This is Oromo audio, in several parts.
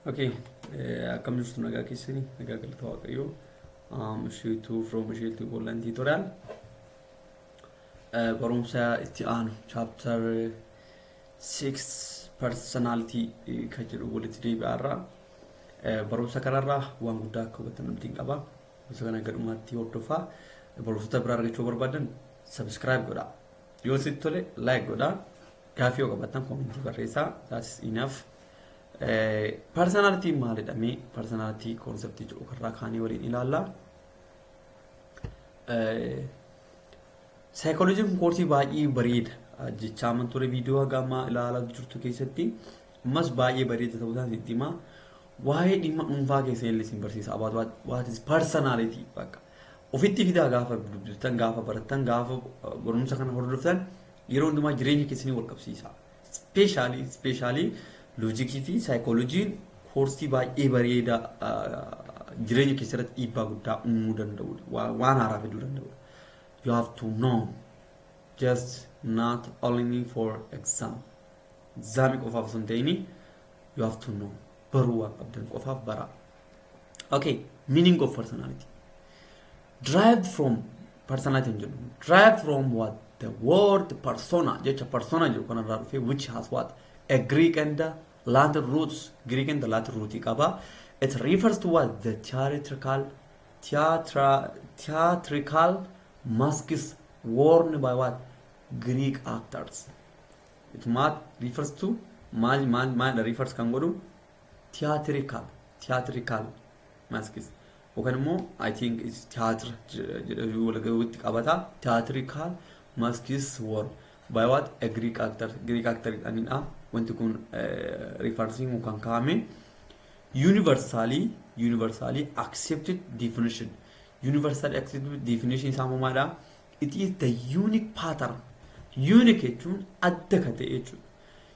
Okay. Eh, akkam jirtu nagaa keessani nagaa galata waaqayyoo um, isheetu from isheetu gollan tutorial Eh, barumsa itti aanu chapter 6 personality eh, kan jedhu walitti deebi'aarra Eh, barumsa kanarraa waan guddaa akka hubatan abdiin qaba barumsa kana gadhumaatti hordofaa barumsota biraa argachuu barbaadan subscribe godha yoo sitti tole like godha Gaaffii yoo qabaattan koomentii barreessaa. That is enough. Parsanaaltiin maalidha mee? Parsanaaltii koonseptii jedhu karraa kaanii waliin ilaalla. Saayikooloojiin kun koorsii baay'ee bareeda. Jechaa amma ture viidiyoo haga ammaa ilaalaa jirtu keessatti ammas baay'ee bareeda ta'uu isaan sitti himaa. Waa'ee dhimma dhuunfaa keessa illee isin barsiisa. About what, what is personality bakka. Ofitti fidaa gaafa dubbiftan, gaafa barattan, gaafa barumsa kana hordoftan Yeroo hundumaa jireenya keessanii wal qabsiisaa. Ispeeshaalii ispeeshaalii loojikii fi saayikooloojiin koorsii baay'ee bareedaa jireenya keessa irratti dhiibbaa guddaa uumuu danda'udha. Waan haaraa fiduu danda'udha. You have to know just not only for exam. Exaamii qofaaf osoo hin ta'in you have to know baruu waan qabdan qofaaf baraa. Okay, meaning of personality. derived from persona kan jedhu derived from what the word persona jecha persona jedhu kanarraa dhufe which has what a Greek and a Latin roots Greek and a Latin root qaba it refers to what the theatrical theatra, theatrical masks worn by what Greek actors it might refers to maal maal maal refers kan godhu theatrical theatrical masks yookaan immoo I think is theatre jedhanii walgahuutti qabata theatrical masks worn by what a Greek actor Greek actor jedhanidha wanti kun referencing kan kaa'ame universally universally accepted definition universally accepted definition isaa maadha it is the unique pattern unique jechuun adda ka ta'e jechuudha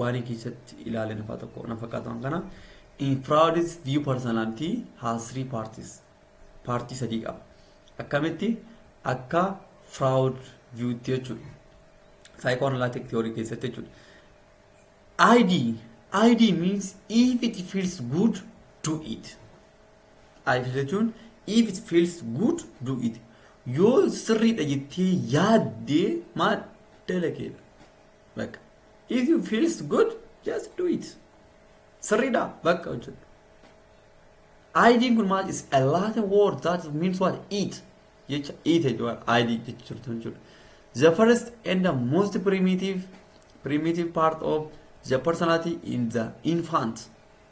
Waarii keessatti ilaale nafaa tokko na fakkaatu waan kana. In Freud's view personality has three parties. Paartii sadii qaba. Akkamitti akka Freud view'tti jechuudha. Psychoanalytic theory keessatti jechuudha. ID, ID means if it feels good, do it. ID jechuun if it feels good, do it. Yoo sirriidha jettee yaaddee maal dalageedha. Bakka If you feels good, just do it. Sirriidha bakka hojjedhu. ID kun maal is a Latin word that means what eat jecha eat jechuudha ID jecha jirtu jechuudha. The first and the most primitive primitive part of the personality in the infant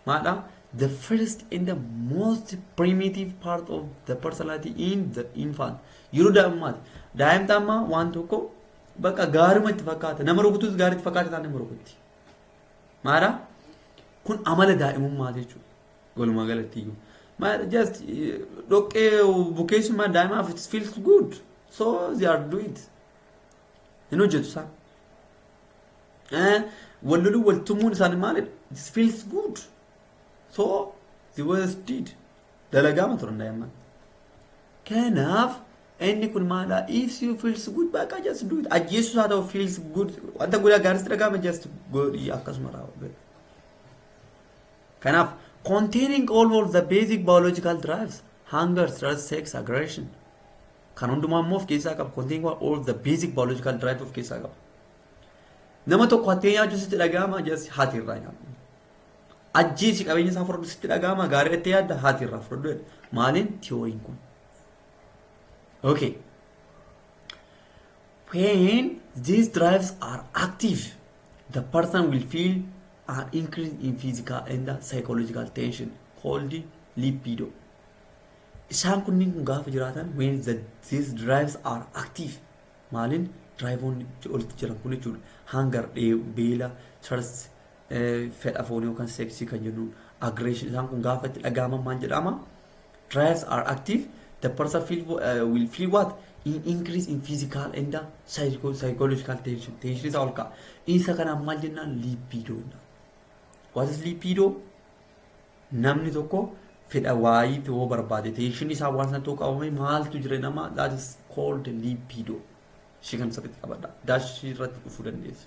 maadha. The first and the most primitive part of the personality in the infant yeroo daa'imummaati. Daa'imni amma waan tokko Bakka gaaruma itti fakkaata. Nama rukutus gaarii itti fakkaata taanaan nama rukutti. Maara kun amala daa'imummaa jechuudha. Walumaa galatti iyyuu. Maara just eh, dhoqqee bukeessummaan daa'imaaf it feels good. So they are do it. Hin hojjetu isaan. Eh, Wal loluu wal tumuun isaanii maalidha? It feels good. So they was did. Dalagaama turan daa'imman. Kanaaf inni kun maala if you feels good bakka just do it ajjeessus haa ta'u feels good wanta guddaa gaariitti dhaga'ama just godhi akkasuma raawwadhu. Kanaaf containing all of the basic biological drives hunger, thirst, sex, aggression kan hundumaa immoo of keessaa qaba containing all of the basic biological drives of keessaa qaba. Nama tokko hattee nyaachuus itti dhaga'ama just haati irraa nyaadhu. Ajjeesi qabeenya isaa fudhadhu sitti dhaga'ama gaarii itti yaadda haati irraa fudhadhu jedhe. Maaliin tiyooriin kun. Okay. When these drives are active, the person will feel an increase in physical and psychological tension called libido. Isaan kunniin kun gaafa jiraatan when the, these drives are active maaliin diraayivoonni olitti jiran kun jechuudha. Hangar, dheebu, beela, thirst, fedha foonii yookaan seeksii kan jennuun aggression isaan kun gaafa itti dhaga'aman maal jedhama trials are active the person feel, uh, will feel what in increase in physical and uh, psycho- psychological tension tension isaa ol ka'a isa kanaan maal jennaan libido jennaan what is libido namni tokko fedha waayii yoo barbaade tension isaa waan sana tokko qabame maaltu jira nama that is called libido ishee kan sirriitti qabadha daashii irratti dhufuu dandeessu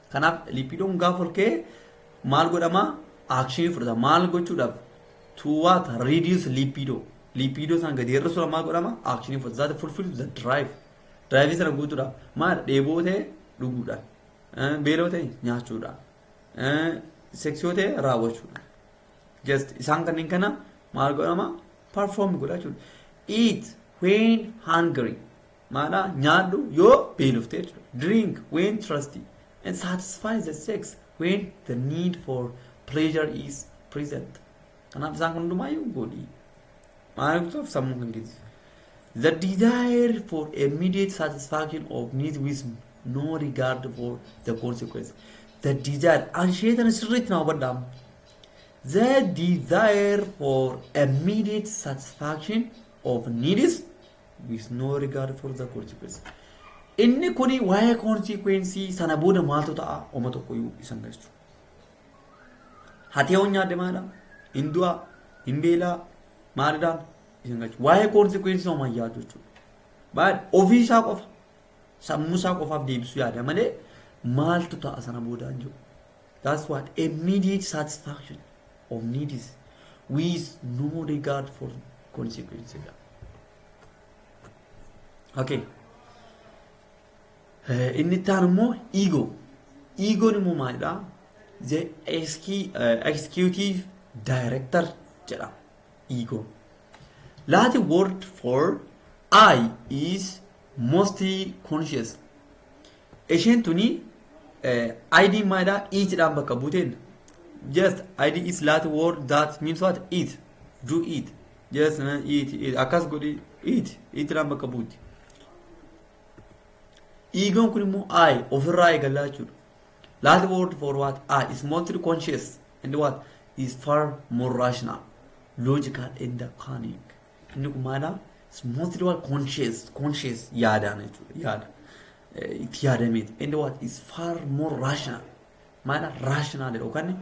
Kanaaf lipiidoon gaafa ol ka'e maal godhama? Aakshinii fudhata. Maal gochuudhaaf? To what? Reduce lipido. Lipido sana gadi hir'isuudha maal godhama? Aakshinii fudhata. Zaata fulfill the drive. Drive sana guutuudhaaf maal dheeboo ta'e dhuguudha. Beeloo ta'e nyaachuudha. Seksiyoo ta'e raawwachuudha. Just isaan kanneen kana maal godhama? Perform godha jechuudha. Eat when hungry. Maana nyaadhu yoo beelofte jechuudha. Drink when thirsty and satisfy the sex when the need for pleasure is present. Kanaaf isaan kun hundumaayyuu godhi. Maana jechuuf sammuu kan geessu. The desire for immediate satisfaction of needs with no regard for the consequence. The desire, ansheetan sirriitti na hubadhaa. The desire for immediate satisfaction of needs with no regard for the consequence. Inni kuni waa'ee konsikwensii sana booda maaltu ta'a oma tokko iyyuu isan galchu. Hatee hoon nyaadde maala? Hin du'a? Hin beelaa? Maalidhaan? Isan galchu. Waa'ee konsikwensii homaa hin yaadu jechuudha. Baay'ee ofii isaa qofa sammuu isaa qofaaf deebisuu yaada malee maaltu ta'a sana booda hin jiru. That's what immediate satisfaction of need is with no regard for consequences. Okay. Eh, Inni itti aanu immoo ego. Egoon immoo maalidha? The execu- eh, executive director jedhama. Ego. Latin word for I is most conscious isheen tuni id maayidha eat dhaan bakka buuteen just id is lat word that means what eat do eat just uh, eat eat akkas godhi eat eat dhaan bakka buuti eegoon kun immoo i ofirraa eegallaa jechuudha lat word for what i is mostly conscious and what is far more rational logical and cunning Inni kun maala? It's mostly what conscious, conscious yaadaan jechuudha. Yaada. Eh, Itti yaadameeti. And what is far more rational. Maala rational yookaan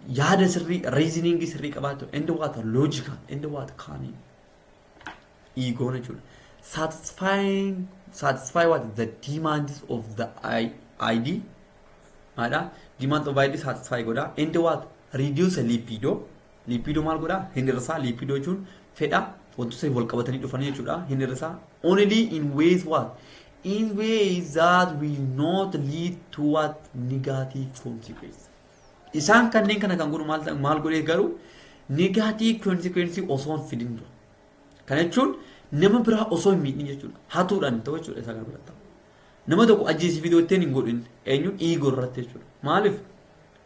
yaada sirrii, reasoning sirrii qabaatu. And what logical. And what cunning. Egoon jechuudha. Satisfying, satisfy what the demands of the I- ID. Maala demands of ID satisfy godha. And what reduce libido. Liippiidoo maal godha? Hin hir'isaa. Liippiidoo jechuun fedha wantoota wal qabatanii dhufanii jechuudha. Hin hir'isaa. Only in ways what? In ways that will not lead to what? Negative consequence. Isaan kanneen kana kan godhu maal ta'a- maal godhee garuu negative consequence osoo hin fidin dura. Kana jechuun nama biraa osoo hin miidhin jechuudha. Hatuudhaan ta'u jechuudha isa kana biratti. Nama tokko ajjeesii fidoo ittiin hin godhin eenyuun dhiigoo irratti jechuudha. Maaliif?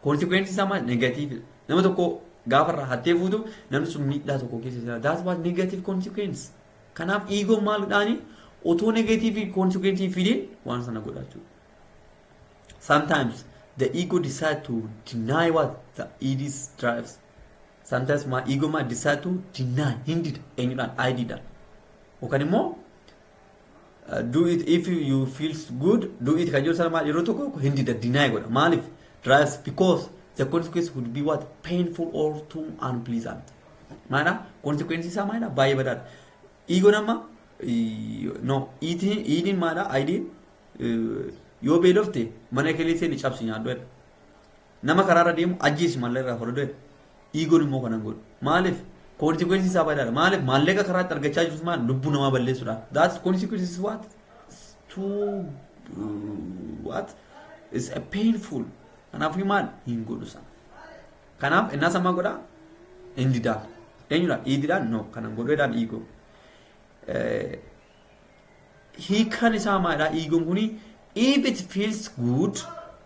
Consequence isaa maal? Negative dha. Nama tokko gaafa irraa hattee fuutu namni sun miidhaa tokko keessa jira. That's what negative consequence. Kanaaf ego maal dhaani? Otoo negative consequence hin fidin waan sana godha jechuudha. Sometimes the ego decide to deny what the id drives. Sometimes my ego might decide to deny hindida eenyudhaan ididhaan. Yookaan immoo do it if you feels good do it kan jedhu sana maal yeroo tokko tokko hin dida deny godha maaliif drives because the consequence would be what painful or too unpleasant maadha consequence isaa maadha baay'ee badaadha ego nama no eating eating maadha idin yoo beelofte mana kelee seeni cabsi nyaadhu jedha Nama karaarra deemu ajjeesi maallaqa irraa falude iigoon immoo kanan godhu. Maaliif? Consequences isaa baay'eedha. Maaliif? Maallaqa karaatti argachaa jirus maal lubbuu namaa balleessuudhaan. That's consequences what? Too what? It's a painful. Kanaafuu maal hin godhu sana. Kanaaf innaa sammaa godha hin didaa. Eenyudhaan? Iididhaan? No. Kanan godheedhaan iigoo. Hiikan isaa maalidhaa? Iigoon kuni if it feels good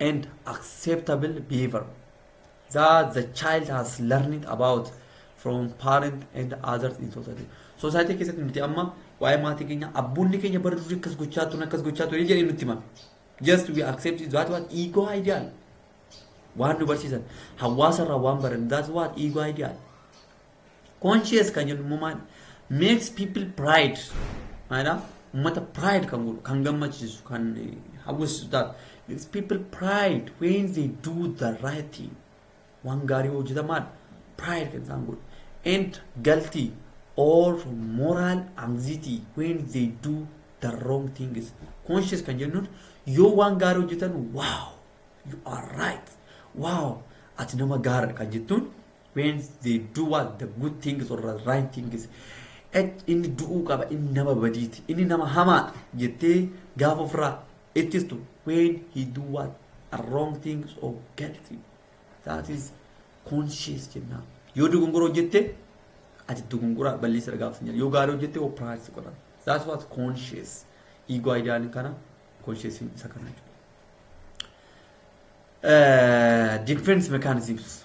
and acceptable behavior that the child has learned about from parent and others in society. Society keessatti nuti amma waa'ee maatii keenya abboonni keenya bara durii akkas gochaa turan akkas gochaa turan jedhee nutti hima. Just we accept it that what ego ideal. Waan nu barsiisan hawaasa irraa waan baran that what ego ideal. Conscious kan jennu immoo maali? Makes people pride. Maalidhaa? Uummata pride kan godhu, kan gammachiisu, kan hawwisiisu taatu. Makes people pride when they do the right thing. Waan gaarii hojjetan maali? Pride kan isaan godhu. And galti or moral anxiety when they do the wrong things. Conscious kan jennuun yoo waan gaarii hojjetan wow you are right wow ati nama gaariidha kan jettuun when they do what the good things or the right things Ec- inni du'uu qaba inni nama badiiti inni nama hamaadha jettee gaafa ofirraa ittistu when he do what a wrong things or bad thing that is conscious jennaan yoo dogongora hojjette ati dogongora balleessa irra gaafatan jedha yoo gaarii hojjette oo practice godhan that's what conscious ego ideal kana conscious isa kana jechuudha. Eh, defense mechanisms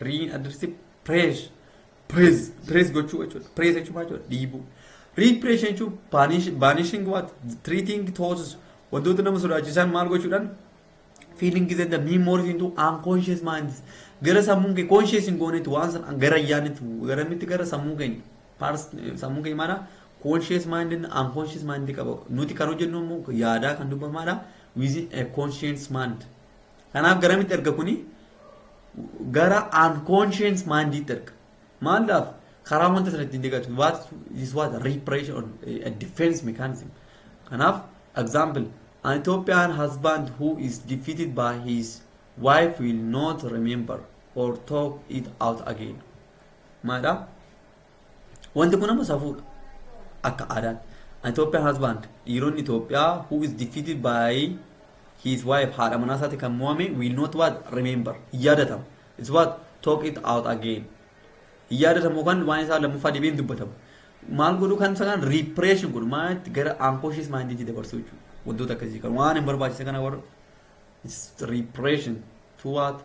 Riin addirsi prees prees prees gochuu jechuudha. Prees jechuun maal jechuudha? Dhiibuu. Repression jechuun banish- banishing what? Treating thoughts wantoota nama sodaachisan maal gochuudhaan feelings and the memories into unconscious minds gara sammuun kee conscious hin goonetti waan san gara yaanitti gara mitti gara sammuu keenya Pars- sammuu keenya maana conscious mind and unconscious mind qaba nuti kan hojjennu immoo yaadaa kan dubbamaadha within a conscious mind Kanaaf garamitti erga kuni gara unconscious mindiitti erga. Maalaaf karaa wanta sana ittiin deeggartu what is what repression or a defense mechanism. Kanaaf example an Ethiopian husband who is defeated by his wife will not remember or talk it out again. Maadha? Wanti kun amma safuudha. Akka aadaan. Ethiopian husband dhiironni Itoophiyaa who is defeated by his wife haadha manaa isaati kan mo'ame will not what remember hin yaadatamu. It's what talk it out again. Hin yaadatamu yookaan waan isaa lammaffaa deebiin dubbatamu. Maal godhu kan isa kan repression godhu maal itti gara unconscious mind itti dabarsuu jechuudha. Wantoota akkasii kan waan hin barbaachise kana warra repression to what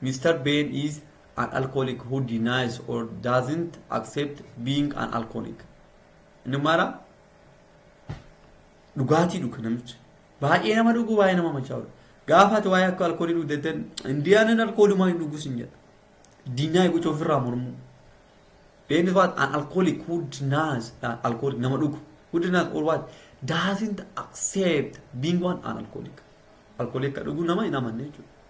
Mister Ben is an alcoholic who denies or doesn't accept being an alcoholic. Inni mara dhugaatii dhuga namichi. Baay'ee nama dhugu baay'ee nama machaa'udha. Gaafa ati waa'ee akka alkoolii dhugdeetten indiyaaniin alkoolumaa hin dhugu sin jedha. Diinaa gocha ofirraa mormuu. Ben is what an alcoholic who denies an alcoholic nama dhugu. Who denies or what doesn't accept being one an alcoholic. Alkoolii akka dhugu nama hin amanne jechuudha.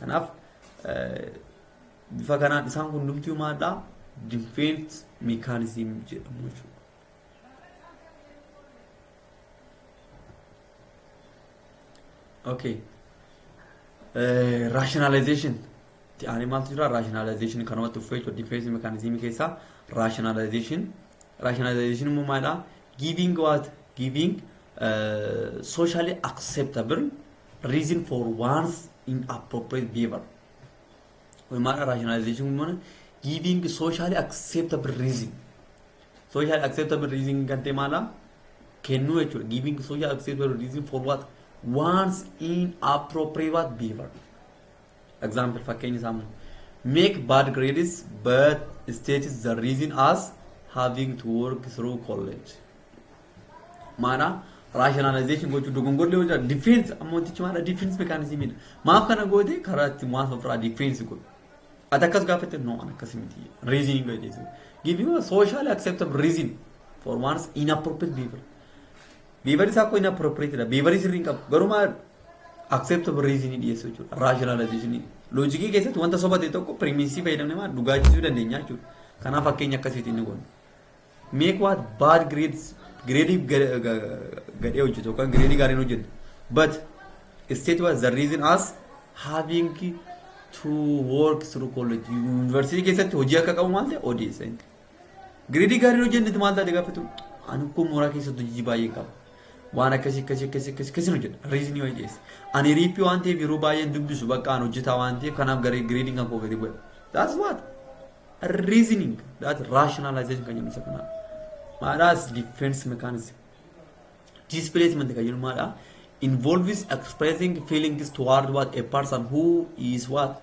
Kanaaf bifa kanaan isaan kun hundumtuu maalidha? Defense mechanism jedhamu jechuudha. Okay. Eh, rationalization ti aanee maaltu jira rationalization kanumatti uffee jechuudha defense mechanism keessaa rationalization rationalization immoo maalidha giving what giving eh, socially acceptable reason for one's inappropriate behavior. Kun maal rationalization kun mana giving socially acceptable reason. Socially acceptable reason kan ta'e maala kennuu jechuudha. Giving socially acceptable reason for what one's inappropriate behavior. Example fakkeenya isaa immoo make bad grades but states the reason as having to work through college. Maana rationalization gochuu dogongorri yoo jira defense amma wantichi maadha defense mechanism dha. Maaf kana goote karaa itti waan ofirraa defense godhu. Ati akkas gaafatte no an akkas miti reasoning godhe jechuudha. Give you a socially acceptable reason for one's inappropriate behavior. Behavior isaa akkoo inappropriate dha. Behavior sirrii hin qabu. Garuu maal acceptable reason dhiyeessuu jechuudha. Rationalization. Loojikii keessatti wanta soba ta'e tokko premise fayyadamne maal dhugaachisuu dandeenya jechuudha. Kanaaf fakkeenya akkasiitiin ni goona. Make what bad grades grade gadhee hojjetu yookaan grade gaariin hojjetu. But state was the reason as having to work through college. University keessatti hojii akka qabu maal ta'e odeessa. Gireedii gaarii yoo jennetti maal taate gaaffatu? Ani ukkoo mooraa keessatti hojii baay'een qaba. Waan akkasii akkasii akkasii akkasii akkasii hojjedha. Riizinii wayii dhiyeessa. Ani riippii waan ta'eef yeroo baay'een dubbisu bakka aan hojjetaa waan ta'eef kanaaf garee gireediin kan koo gadi bu'e. That's what? Reasoning. That's rationalization kan jennu isa kanaa. Maadhaas defense mechanism. Displacement kan jennu maadhaa? Involves expressing feelings toward what a person who is what?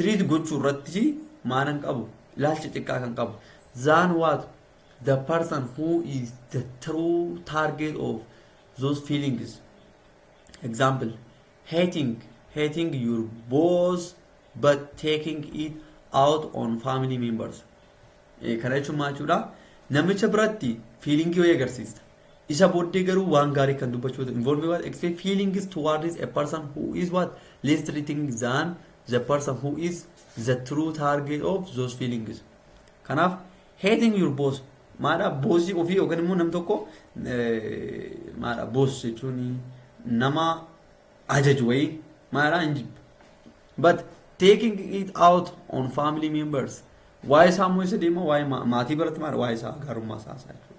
treat gochuu irratti maanan qabu ilaalcha xiqqaa kan qabu than what the person who is the true target of those feelings example hating hating your boss but taking it out on family members Eh, kana jechuun maal jechuudha namicha biratti fiiliingii wayii agarsiista Isa booddee garuu waan gaarii kan dubbachuu ta'e involve what express feelings towards a person who is what less treating than the person who is the true target of those feelings. Kanaaf hating your boss maadha boosii ofii yookaan immoo nam tokko maadha boos jechuun nama ajaju wayii maadha hin jibbu. But taking it out on family members waa'ee isaa immoo isa deema waa'ee maatii biratti maadha waa'ee isaa gaarummaa isaa isaa jechuudha.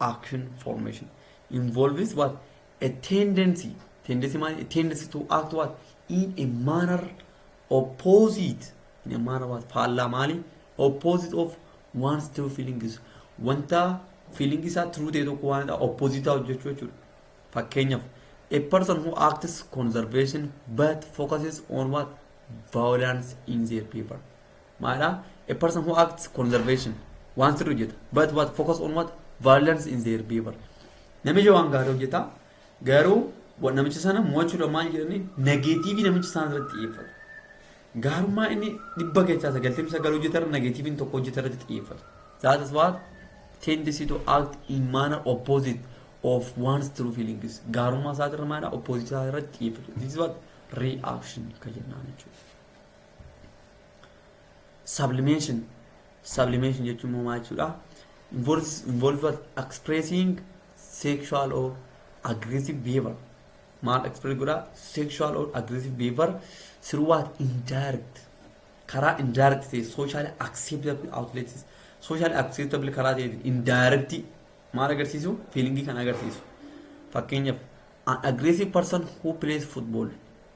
action formation involves what a tendency tendency maal a tendency to act what in a manner opposite in a manner what faallaa maali opposite of one's true feelings wanta feeling isaa true ta'e tokko waan opposite ta'u jechuu jechuudha fakkeenyaaf a person who acts conservation but focuses on what violence in their paper maadha a person who acts conservation waan sirri hojjeta but what focus on what violence in their behavior namichi waan gaarii hojjeta garuu wa- namicha sana mo'achuudha maal jedhanii nageetiivii namicha isaan irratti xiyyeeffatu gaarummaa inni dhibba keessaa sagaltamii sagal hojjetarra nageetiiviin tokko hojjetarratti xiyyeeffatu that is what tendency to act in manner opposite of one's true feelings gaarummaa isaatirra maadha opposite isaa irratti xiyyeeffatu this is what reaction kan jennaan jechuudha sublimation sublimation jechuun immoo maal jechuudha involves involves expressing sexual or aggressive behavior maal express godha sexual or aggressive behavior through what indirect karaa indirect ta'e socially acceptable outlets socially acceptable karaa ta'e indirect maal agarsiisu feelingii kan agarsiisu fakkeenyaaf an aggressive person who plays football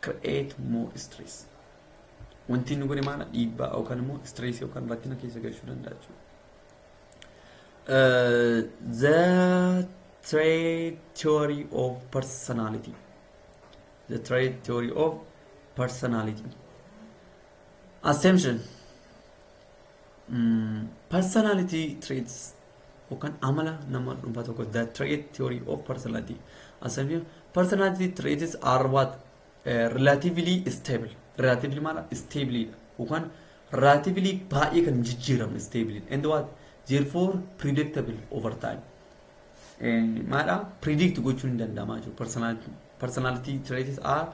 create more stress. Wanti inni godhe maala dhiibbaa yookaan immoo stress yookaan rakkina keessa galchuu danda'a jechuudha. Uh, the trait theory of personality. The trait theory of personality. Assumption. Mm, personality traits yookaan amala nama dhuunfaa tokko the trait theory of personality asabni personality traits are what uh, relatively stable relatively maala stable dha yookaan relatively baay'ee kan jijjiiramne stable and what therefore predictable over time maadha predict gochuun hin danda'amaa jiru personality personality traits are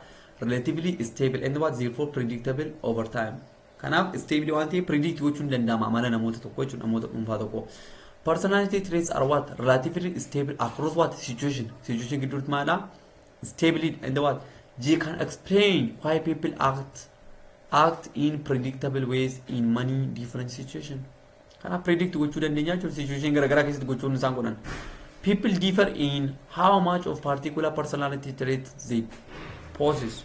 relatively stable and what therefore predictable over time Kanaaf isteebilii waan ta'eef predict gochuun ni danda'ama amala namoota tokko jechuudha namoota dhuunfaa tokko. Personality traits are what relatively stable across what situation situation gidduutti maadha stability and what they can explain why people act act in predictable ways in many different situation. Kanaaf predict gochuu dandeenya jechuudha situation garaagaraa keessatti gochuun isaan godhan. People differ in how much of particular personality traits they possess.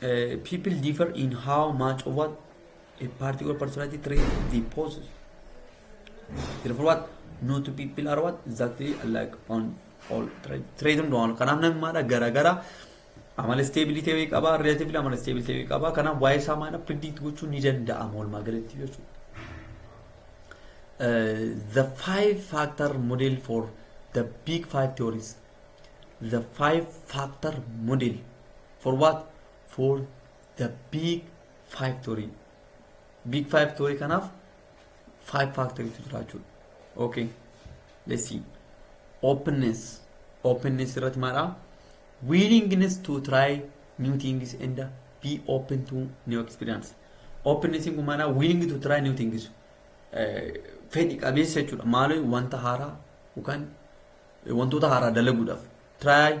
Uh, people differ in how much of what a particular personality trait they possess. Therefore, what no two people are what exactly alike on all trait. Trait and all. Kanaaf namni maadha garaagara amala stability wayii qaba, relatively amala stability wayii qaba. Kanaaf waa'ee isaa maadha predict gochuun ni danda'ama walumaa galatti jechuudha. Uh, the five factor model for the big five theories. The five factor model For what? For the big factory. Big factory kanaaf five factory tu jira jechuudha. Okay. Let's see. Openness. Openness irratti maalaa? Willingness to try new things and be open to new experience. Openness kun maalaa? Willing to try new things. Fedhi qabeessa jechuudha. Maaloo wanta haaraa yookaan wantoota haaraa dalaguudhaaf. Try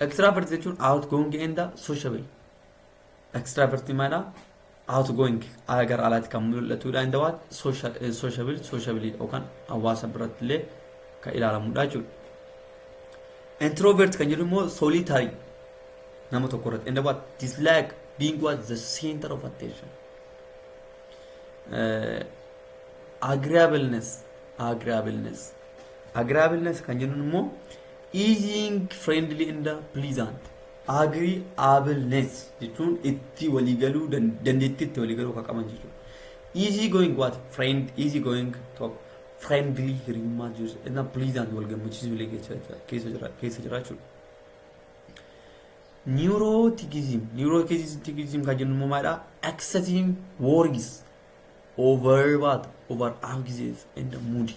Extravert jechuun outgoing and sociable. Extravert maala outgoing ala gara alaatti kan mul'atudha and what social eh, sociable sociable yookaan hawaasa biratti illee kan ilaalamudha jechuudha. Introvert kan jedhu immoo solitary nama tokko irratti and what dislike being what the center of attention. Eh, agreeableness agreeableness agreeableness kan jennuun immoo Easing, friendly and pleasant, agreeableness jechuun itti walii galuu dandeettii itti walii galuu kan qaban jechuudha. Easy going what? Friend, easy going tokko. Friendly hiriyummaa jirus na pleasant wal gammachiisuu illee keessa jiraachuudha. Neuroticism, neuroticism kan jennu immoo maalidha? Excessive worries over what? Over anxious and moody.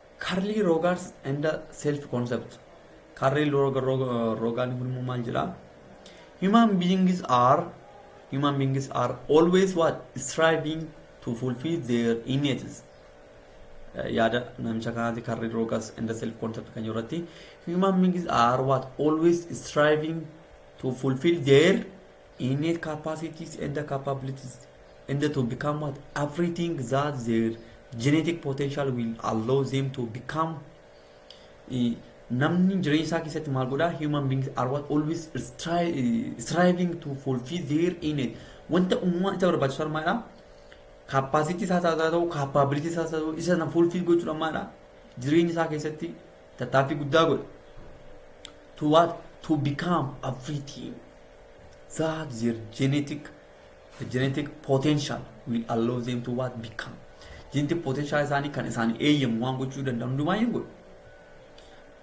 Karlii Roogaars and the Self Concept Karlii Roogaan kun immoo maal jedha? Human beings are human beings are always what striving to fulfill their innate yaada namicha kanaati karri rogas and the self concept kan irratti human beings are what always striving to fulfill their innate capacities and capabilities and to become what everything that their genetic potential will allow them to become Eh, namni jireenya isaa keessatti maal godhaa human beings are what always stri- eh, striving to fulfill their innate wanta uumamaan isa barbaachisu armaadha kaappaasitii isaa haa ta'u kaappaabilitii isaa haa ta'u isa na fulfill gochuudha maadha jireenya isaa keessatti Tattaaffii guddaa godhe. To what? To become everything that their genetic the genetic potential will allow them to what become. Genetic potential isaanii kan isaanii eeyyamu waan gochuu danda'an hundumaa hin godhu.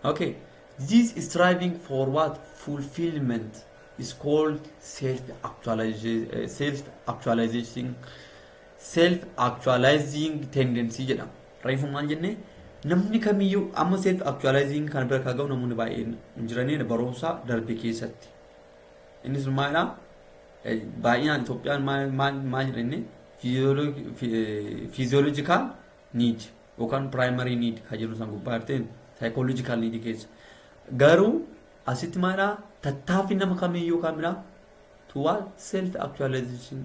Okay. This striving for what fulfillment is called self actualization self actualization self actualizing tendency jedhama. Reefu maal jenne namni kamiyyuu amma self actualizing kana bira kan ga'u namoonni baay'een hin jiranii barumsa darbe keessatti. Innis maalidha? Baay'inaan Itoophiyaan maal jedha inni fiiziyoolojikaal niid yookaan piraayimarii niid kan jennu san gubbaa jirteen saayikoolojikaal niid keessa. Garuu asitti maalidha? Tattaaffii nama kamiyyuu kamidha? Tuwaa self actualization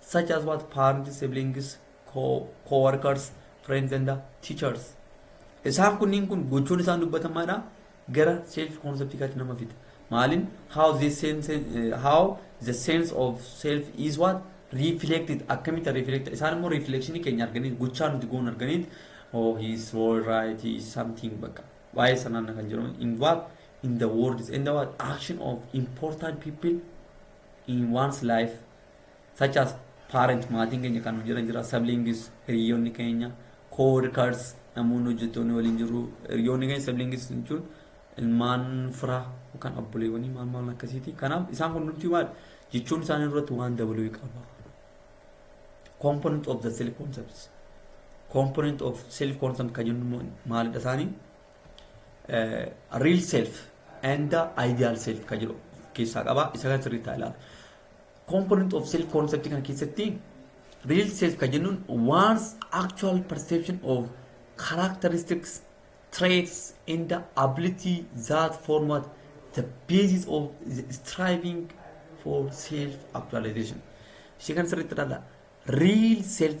such as what parents, siblings, co co-workers, friends and teachers. Isaan kunniin kun gochoon isaan dubbatamaadha gara self conceptikaatti nama fida. Maalin how the sense eh, how the sense of self is what reflected akkamitti reflect isaan immoo reflection keenya arganiit gochaa nuti goon arganiit oh he is all right he is something bakka waa'ee sanaan kan jedhamu in what in the words and the what action of important people in one's life such as parent maatiin keenya kan hojirra jira siblings hiriyoonni keenya co-workers namoonni hojjettoonni waliin jiru hiriyoonni keenya siblings jechuun ilmaan fira yookaan abboleewwanii maal maal akkasiiti kanaaf isaan kun nuti maal jechuun isaanii irratti waan dabaluu qaba component of the self concepts component of self concept kan jennu maalidha isaanii real self and ideal self kan jedhu keessaa qaba isa kan sirriitti haa ilaalu. Component of self concept kana keessatti real self kan jennuun one's actual perception of characteristics, traits and the ability that format the basis of the striving for self actualization. Ishee kan sirriitti ilaalla. Real self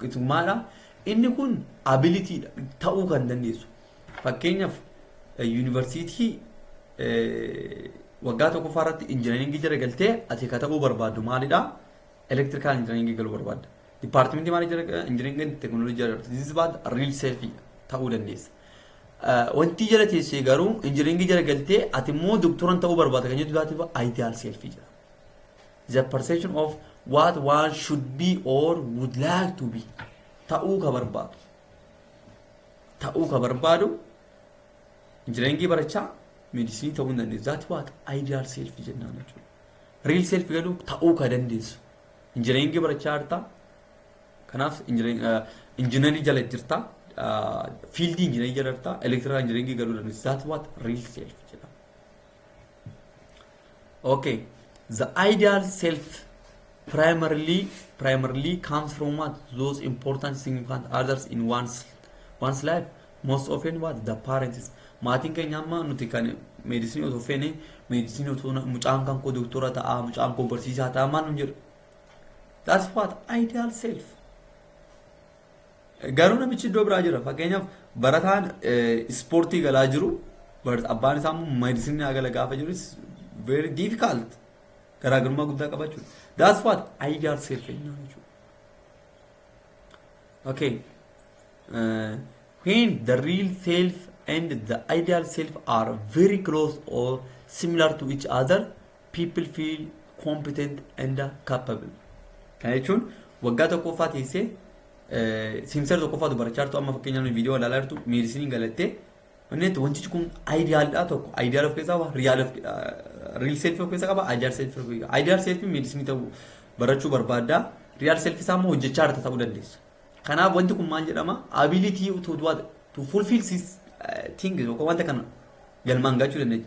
Gitummaadha. Inni kun ability dha. Ta'uu kan dandeessu. Fakkeenyaaf yuunivarsiitii waggaa tokkoffaa irratti injinariingii jala galtee ati ka ta'uu barbaaddu maalidha? Elektirikaal injinariingii galuu barbaadda. Dipaartimentii maalii jala injinariingiin teekinooloojii jala galtee this is bad real selfie ta'uu dandeessa. Wanti jala teessee garuu injinariingii jala galtee ati immoo doktoran ta'uu barbaadda kan jettu taate ideal selfie jedhama. the perception of what one should be or would like to be ta'uu ka barbaadu ta'uu ka barbaadu injinariingii barachaa meedisinii ta'uu hin dandeessu zaati waata ideal self jennaan jechuudha real self garuu ta'uu ka dandeessu injinariingii barachaa jirta kanaaf injinarii jala jirta fiildii injinarii jala jirta elektiraa injinaringii garuu dandeessu zaati waata real self jedhama Okay. The ideal self primarily primarily comes from what those important significant others in one's one's life. Most often what the parents. Maatiin keenya amma nuti kan meedisinii otoo feene meedisinii otoo na- mucaan kan koo doktora ta'a mucaan koo barsiisaa ta'a maal nu jedhu. That's what ideal self. Garuu namichi iddoo biraa jira. Fakkeenyaaf barataan ispoortii galaa jiru abbaan isaa immoo meedisinii haa gala gaafa jiru very difficult garaagarummaa guddaa qaba jechuudha. That's what ideal self ennaa jechuudha. Okay. Uh, when the real self and the ideal self are very close or similar to each other, people feel competent and capable. Kana jechuun waggaa tokkoffaa teessee simsar tokkoffaatu barachaa jirtu amma fakkeenyaaf viidiyoo ilaalaa jirtu meedisiniin galattee wanneetti wantichi kun aayidiyaalidha tokko aayidiyaal of keessaa qaba riyaal of riil seelfii of keessaa qaba aayidiyaal seelfii of keessaa aayidiyaal seelfii meedisinii ta'uu barachuu barbaadda riyaal seelfii isaa immoo hojjechaa jirta ta'uu dandeessa. Kanaaf wanti kun maal jedhama ability to do what to fulfill this thing yookaan wanta kana galmaan gachuu dandeenya.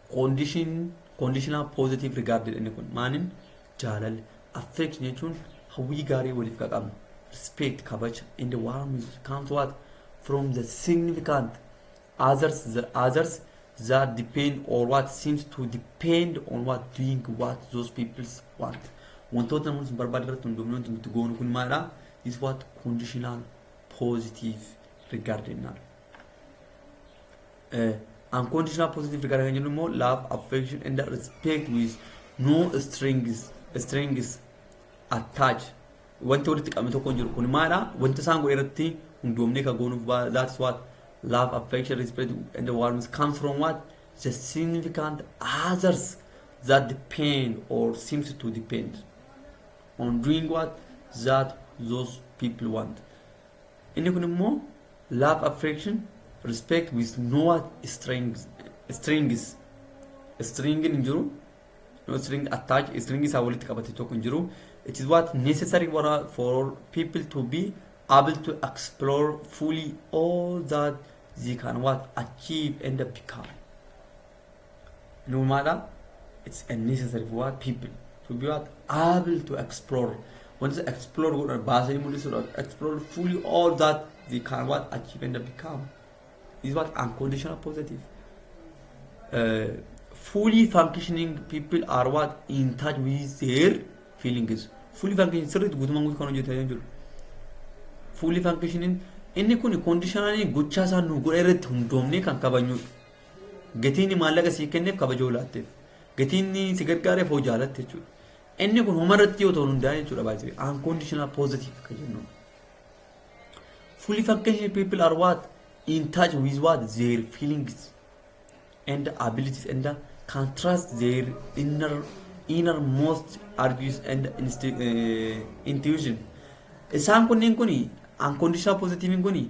Condition conditional positive regard jedhani kun maanin jaalalli affection jechuun hawwii gaarii waliif ka qabnu respect kabaja and warm comes what from the significant others the others that depend or what seems to depend on what doing what those people want wantoota namoonni sun barbaada irratti hundoofne wanti nuti goonu kun maalidha is what conditional positive regard jennaan Unconditional positive regard kan jennu immoo love, affection and respect with no strings, strings attach. Wanti walitti qabame tokko hin jiru. Kun maalidha? Wanta isaan godhe irratti hundoomnee kan goonuuf ba- that's what love, affection, respect and warmth comes from what? The significant others that depend or seems to depend on doing what? That those people want. Inni kun immoo love affection respect with no what strings strings string hin jiru no string attach string isaa walitti qabate tokko hin jiru it is what necessary for, for people to be able to explore fully all that they can what achieve and become Nuumaadha. It's a necessary for what people to be what able to explore. Once explore godhan baasanii mul'isuudha. Explore fully all that they can what achieve and become. Is what unconditional positive. Uh, fully functioning people are what in touch with their feelings. Fully functioning sirriitti guutummaan guutuu kan hojjetanii jiru. Fully functioning inni kun conditionally gochaa isaa nu godha irratti hundoomnee kan kabajnudha. Gatiinni maallaqa sii kenneef kabajoo laatteef. Gatiinni si gargaareef hoo jaalatte jechuudha. Inni kun homarratti yoo ta'u hundaa'e jechuudha baay'ee unconditional positive kan jennu. Fully functional people are what in touch with what their feelings and abilities and can trust their inner innermost argues and insti- eh, intuition. Isaan kunniin kuni unconditional positive kuni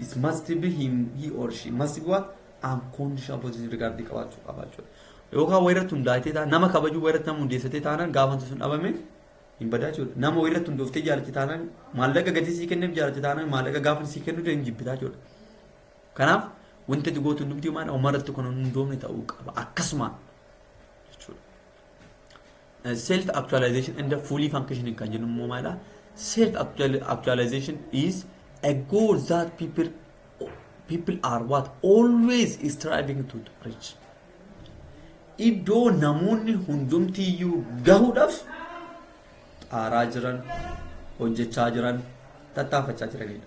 It must be him, he or she. Must be what? Unconscious position regarding qabaachuu qaba jechuudha. Yookaan wayii irratti hundaa'ee taanaan nama kabajuu wayii irratti nama hundeessitee taanaan gaafa wanti sun dhabame hin badaa jechuudha. Nama wayii irratti hundooftee jaalatte taanaan maallaqa gatii sii kenneef jaalatte taanaan maallaqa gaafa sii kennu hin jibbitaa jechuudha. Kanaaf wanti ati gootu hundumti maal umarratti kun hin hundoofne ta'uu qaba akkasuma jechuudha. Self actualization and fully functioning kan jennu immoo maalidha? Self actualization is a goal that people people are what always striving to reach. Iddoo namoonni hundumtiyyuu gahuudhaaf xaaraa jiran, hojjechaa jiran, tattaafachaa jiranidha.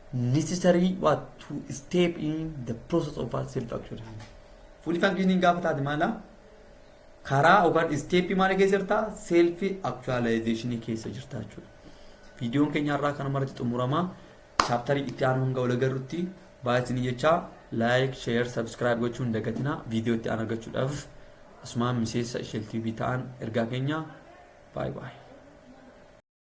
necessary what to step in the process of our self actualization. Full functioning gaafa taate maala karaa yookaan step maal keessa jirta self actualization keessa jirta jechuudha. Viidiyoon keenya irraa kanuma irratti xumurama. Chaaptarii itti aanu hanga wal agarrutti baay'ee isin jecha like, share, subscribe gochuun hin dagatinaa viidiyoo itti aanu argachuudhaaf asumaan miseensa Isheel TV ta'aa ergaa keenya baay'ee baay'ee.